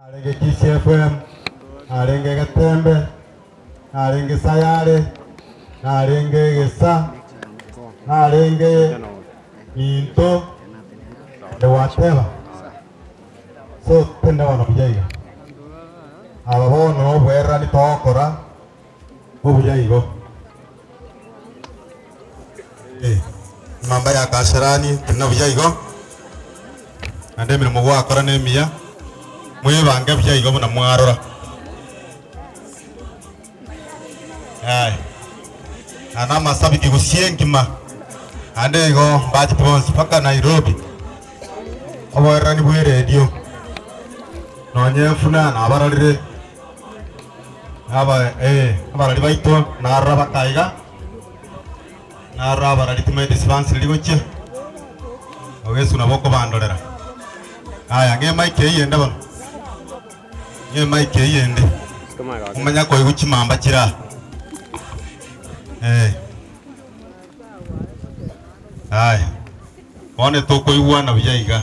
Narenge Kisiefwemu, narenge Getembe, narenge Sayare, narenge Gesa, narenge Minto, naende gwateba, So, tindabona buya iga? Aba bono noboererania togokora, Obuya igo. Eh, emamba ya Kasarani teri na buya igo, naende emeremo gwakora nemiya. Mwebange buya igo buna mwarora. Aye. Aya namasabiki gusii engima, naende igo mbachete bonsi mpaka Nairobi. Oboererani bweredio, nonye efuna nabarorire. Abarari baito narora baka iga, narora abarari timaeti ase bansiriri gochia, awo Yeso nabo okobandorera. Aya ng'ema eke eyende bono, ng'ema eke eyende, omanya koigwa chimamba chire aa. Eh, aya, bono tokoigwana buya iga.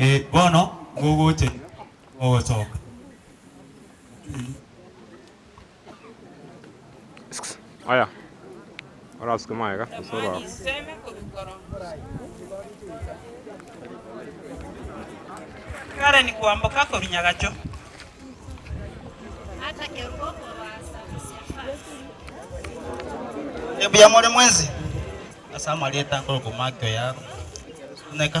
Ee, bono ngogocha inwe mogosoka. Aya, orasuke magega gose orwao. Kare ni kwamboka korwa nyagacho. Ebuya more mwensi ase amarieta nkorokwa Maki oyarwa. Suneka.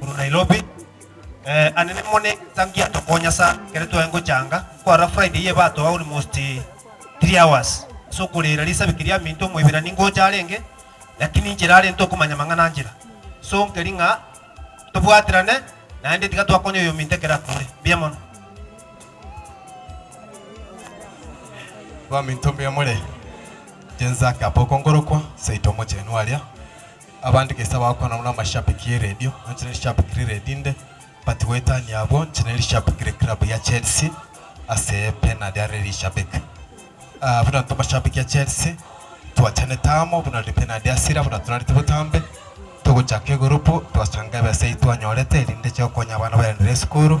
korwa Nairobi. Eh, ane nemo ne thank you atokonya sa kere twaye ngochanga kwarora Friday ye batoa almost eh, three hours so korera risabi keria minto moibirani ngocha arenge lakini nchera are ntokomanya mang'ana nchera so nkeri ng'a tobwaterane naende tiga twakonya oyo minto ekero akure mbuya mono Baminto mbuya more. Inche nzake Apoko ngorokwa, seito omochenu aria. Abande gesa bagokwana buna amashabiki e radio, nonya rishabiki riria rinde, but goetania abwo, nonya rishabiki ria club ya Chelsea ase penari are rishabiki. Ah, buna intwe amashabiki a Chelsea, twachanete amo buna riri penari ase ira buna torareti botambe, togochaka egurupu, twasanga ebesa eyio twanyorete erinde chigokonya abana baenderere esukuru.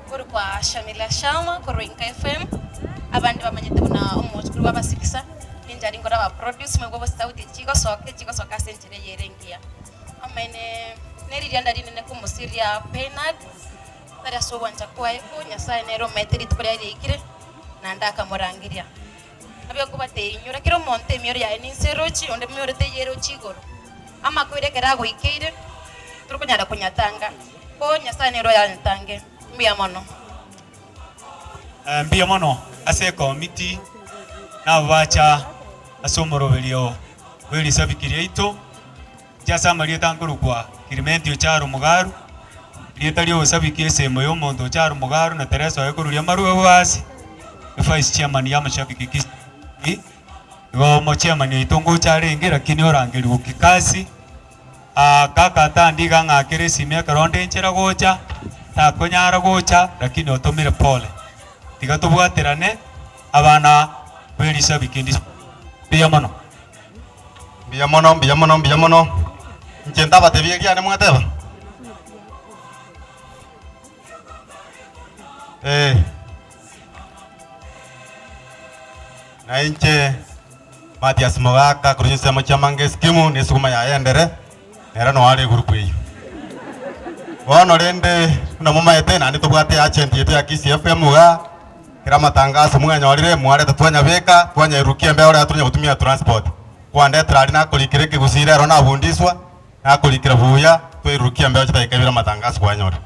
Korwa kwa Shamila Sharma korwa Inka FM, abande bamanyete buna omochokiri bw'abasibisa, ninche aria nkore aba produce moigwe gose sauti echi chigosoka echi chigosoka ase enchera eye ere engiya. Amaene neririanda rinene komosiria Bernard tari ase ogwancha kwaye, ko Nyasaye nere omaete rituko riaye riaikire, naende akamorangeria. Nabio nkobateinyora, kera omonto emioro yaye ninse erochi, onde emioro teiyo erochi igoro. Amakoira ekero agoikeire, torikonyara konyatanga, ko Nyasae nere oyanyatange. Mbuya mono. Eh, mbuya mono ase ekomiti nabo bacha ase omoroberio bw'erisabiki riaito. Inche ase amarieta nkorokwa Kirimentio Charo Mugaru, rieta ri'obosabiki esemo y'omonto Charo Mugaru na Teresa oye koruria amarwebo aase. Vice chairman y'amashabiki Kisi Ii, igo omo chairman oito ngocha arenge lakini orangeri Wukikasi, aah kaka atandi iga ang'akere esimi ekero nde nchera gocha, takonyara gocha lakini otomire pole. Tiga tobwaterane abana b'erisabiki ndis mbuya mono. Mbuya mono, mbuya mono, mbuya mono. Inche ntabatebie erio aria mwateba? Ee. Nainche Mathias Mogaka korwa chinsemo chi'Amangeskimu, nesuguma yaye endere. Ere noyo are egurupu eyio. Bono rende buna momaete naende tobwate eagent yaito ya Kisii FM iga, kera amatangaso mwanyorire mwareta twanyabeka, twanyairurukia embeo oraya tonya gotumia transport. Kwandetera aria nakorikera ekegusii rero nabundiswa, nakorikera buya, twairurukia embeo chidakika ibere amatangaso kwanyore.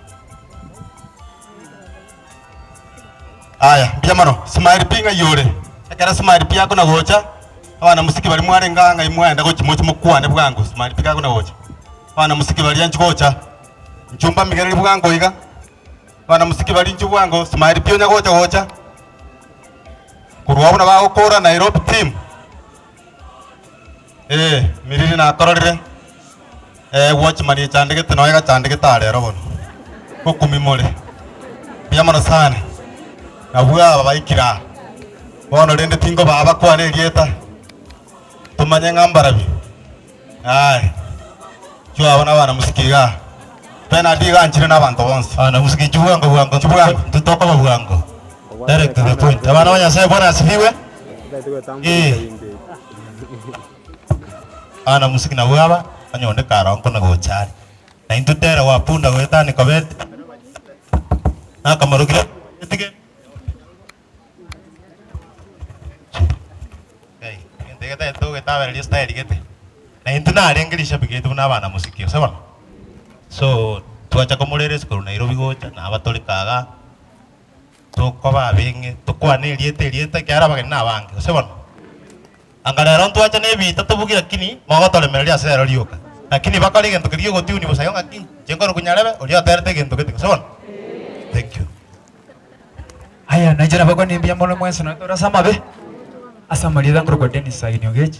Aya, mbuya mono. Smile pi ng'ai ore? Ekero smile pi akona gocha, abana mosike baria mwarenge aa ng'ai mwaenda gochia moche mokwane bwango smile pi gakona gocha. Abana mosike baria nchi gocha, nchi mbamigereri bwango iga. Abana mosike baria nchi bwango smile pi onya gocha gocha. Korwa agwo buna bagokora Nairobi team. Ee, miriri nakororire, ee, gwachimani echandegete nonya egachandegete aa rero bono, ngokumimore. Mbuya mono sana. Nabwo aba baikire aa bono rende tingobaa bakwane erieta, tomanye ng'a mbarabi. Aye, chwo abo nabana mosike iga aa. Benard iga anchire nabanto bonsi. Bana mosike chibwango bwango Chibwango. intwe tokoba bwango. Direct to the point. Abana ba Nyasaye Bwana asifiwe. Ee. Bana musiki nabwo aba onye onde karo nkona gocha are. Na intwe tere gwa punda goetani kobete. Nakamorokire etige. Ngai, egento egetagete ogetabereria style gete. Na intwe narenge rishabiki yaito buna abana musiki ase bono. So twacha komoreresi korwa Nairobi gocha naba tore kaga. tokoba abeng'e, tokwane erieta erieta ekiagera abageni nabange, gose bono? Anga rero ntwache nebiita tobuge lakini mogotoremereria ase rero rioka. Lakini bakore egento keria gi'ogotunwa bosa igo ng'aki inche nkorokwa nyarebe oria oterete egento gete, gose bono? Thank you. Aya nainche nabakwane mbuya mono mwensi nonya tore ase amabe, ase amarieta nkorokwa Dennis Saini Ogechi.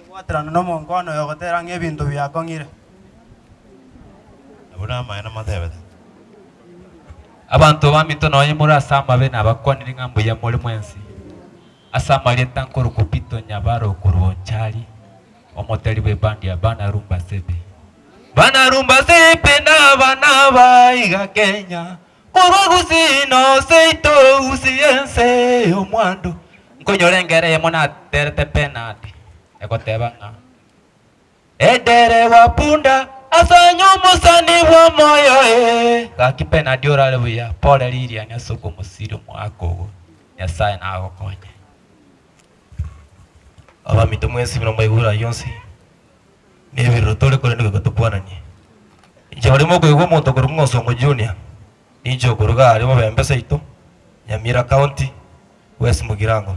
Okobwaterana nomonko one oyogoteera ng'a ebinto biakong'ire. Nabwo namaene namoteebete, Abanto baminto nonya more ase amabe nabakwanire ng'a mbuya more mwensi. Ase amarieta nkorokwa Pito nyabare okorwa Onchari, omotari bw'ebandi ya Bana Rumba Sepe. Bana Rumba Sepe nabana baiga Kenya, Korwa gusii noseito gusii ense y'omwando. Nkonyora engera eyemo naterete penati, egoteba ng'a, Ederewa punda, asanye omosani bw'omoyo ee. Gaki penati orare buya, pore ririani ase okomosiria omwaka ogo, Nyasae nagokonye. Abamito mwesibire omoigwa orayio onsi. Nebirero tore korende goika tokwananie. Inche barimo okoigwa omonto okorokwa ng'a Osongo Junior, ninche okoruga aria Mobembe Saito, Nyamira County, West Mugirango.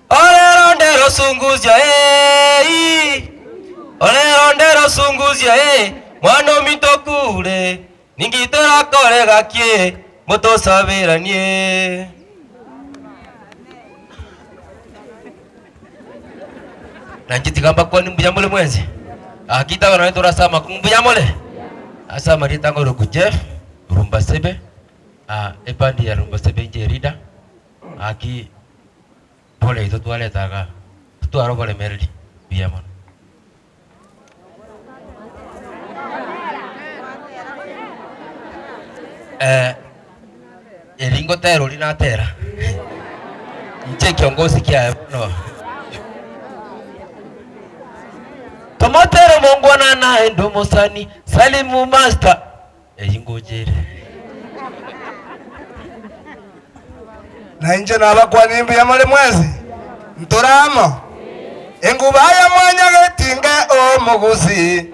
Orero ndero Sunguzio eeii, orero ndero Sunguzio eeh, mwana ominto okure. Ninki torakore gaki ngo tosaberanie? Nainche tiga mbakwanie mbuya more mwensi. Gaki itago naye torase amaku mbuya more. Ase amarieta ng'a Oroku Jeff, Rumbasebe, ah, ebandi ya Rumbasebe inche erida, gaki boraito twareta igaa, titwara oboremereri, mbuya mono. Eh, eri ngotera oria natera inche ekiongosi kiaye bono tomotere omongwana naende omosani salimu master Eyio ingocha ere. Na inche nabakwani mbuya more mwensi, ntore amo. Enguba ya mwanya getinge omogusi,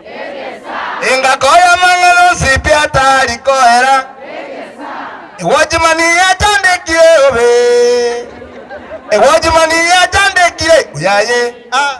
engako y'amang'ana nsipia atari koera, egwachimani yachandekire obe, egwachimani yachandekire buyaye. Ah.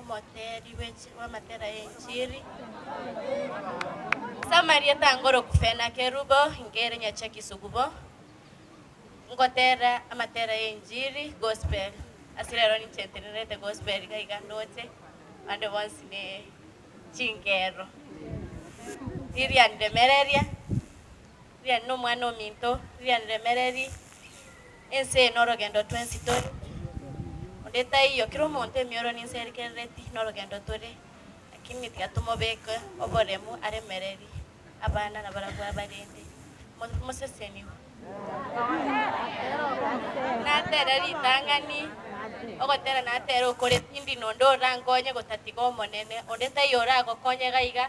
Omoteeri bw'amatera y'enchiri. Samaria tangoroku Senakerubo ngere nyachi ekisugubo, ngoteera amatera y'enchiri, gospel, ase rero ninche ntenerete gospel iga iga ndoche, abande bonsi ne chingero. Lilian Ndemereria. riane nomwana ominto, riane remereri, ense eye norogendo twensi tore, onde taiyo, kera omonto emioro ninse erikerereti norogendo tore, lakini tiga tomobeke oboremu aremereri abana nabarabwo abarende Mo- moseseniwe. Natere ritang'ani, ogotera natere okore tindi nonde orankonye gotatiga Omonene, onde taiyo oragokonye gaiga,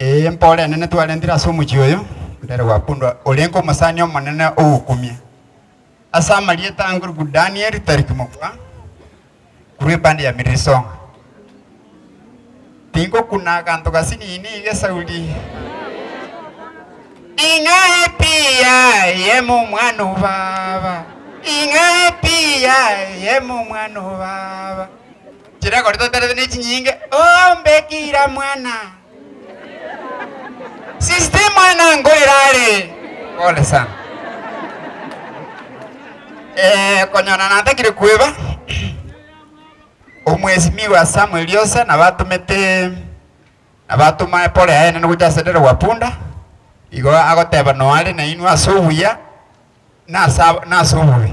Ee, mpore enene twarentire ase omochie oyo mbere gwakundwa, orenge omosani omonene ogokumia, ase amarieta angorokwu Danieli Tariki mokwa, korwa ebande ya Mirisonga. Tingokuna aganto gasinini gesauri ing'a epiya eyemo omwana o baba, ing'a epiya eyemo omwana o baba. Chirekori toterete ne chinyinge, Oh, mbeki ira mwana! Sister mwana ngo ira are? Pole sana. Eh, konyora natakire kweba, Omwesimiwa Samuel Osa nabo atomete nabo atoma eporo yaye enene gocha ase derwa punda, igo agoteba noare nainwe ase obuya na ase ab- na ase obobe.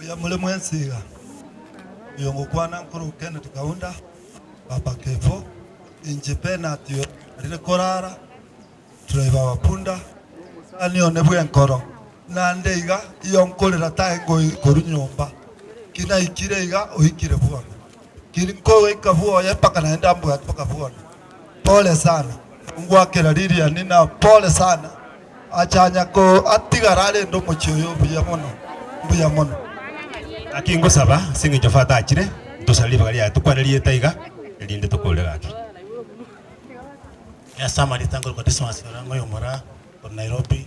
Oyomore mwensi iga, oyongokwana nkoro Kenneth Kaunda, Papa Kevo, inche Bernard oyonyarire korara, driver wa punda, omosani one bw'enkoro, naende iga iyo nkorera tae ngoikorwa nyomba, ki naikire iga oikire bono, ki nkogoika bwoye mpaka naende ambwate mpaka bono. Pole sana. Nongwakera Lilian na pole sana achanya ko atigara arende omochie oyo buya mono mbuya mono. Gaki ngosaba ase engencho fata achire, ntosare ribaga riaye tokwane rieta iga erinde tokorure gaki. Ase amaritango Christmas orang'oe omoraa korwa Nairobi.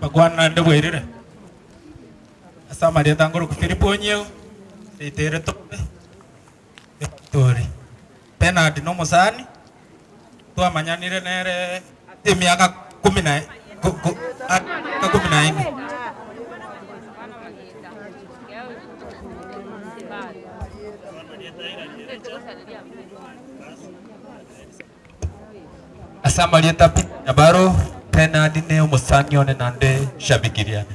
Bakwana naende bwairire, ase amarieta nkoroku Philip Onyeo, Ritere Tope. Victory Bernard nomosani twamanyanire nere ase emiaka ikomi na ikomi na ene. Ase amarieta Peter Nyabaro, Bernard ne omosani one nande shabiki riane.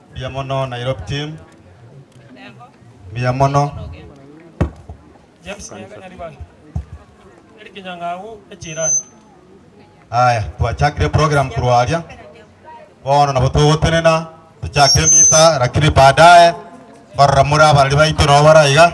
Mbuya mono Nairobi team. Mbuya mono. James Nyaga Nyaribare. Eric Nyang'au echirani. Aya, twachakire program korwa aria. Bono nabo togotenena, tochake emisa, lakini baadaye mbarora more abarari baito nabo bare aiga.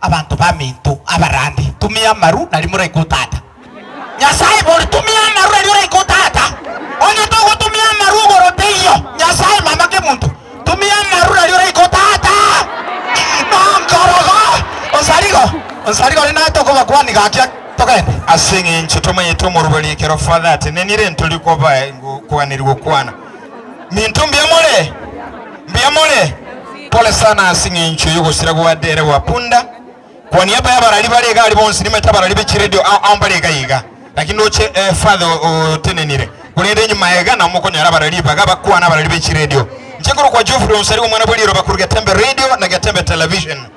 Abanto baminto abarande, tumia amaru nario moraika o Tata. Nyasae bori, tumia amaru nario oraika o Tata. Onye togotumia amaru igoro teiyo Nyasae mama kemonto, tumia amaru nario oraika o Tata. Nonkorogo, onsarigo, onsarigo ore naye tokobakwania gaki togende. Ase engencho tomanyete omorwori ekero Father atenenire, ntori koba kwanerigwa kwana. Minto mbuya more? Mbuya more? Pole sana ase eng'encho y'ogosira gwa Dere wa Punda. Kwa niaba y'abarari bare iga aria bonsi nimanyete abarari be chiredio ao ao mbare iga iga. Lakini ndoche eh, Father o- otenenire. Korende inwe maega nao mokonyora abarari baga bakwana abarari be chiredio. Inche nkorokwa Geoffrey Onsari omwana bwe riroba korwa Getembe Radio na Getembe Television.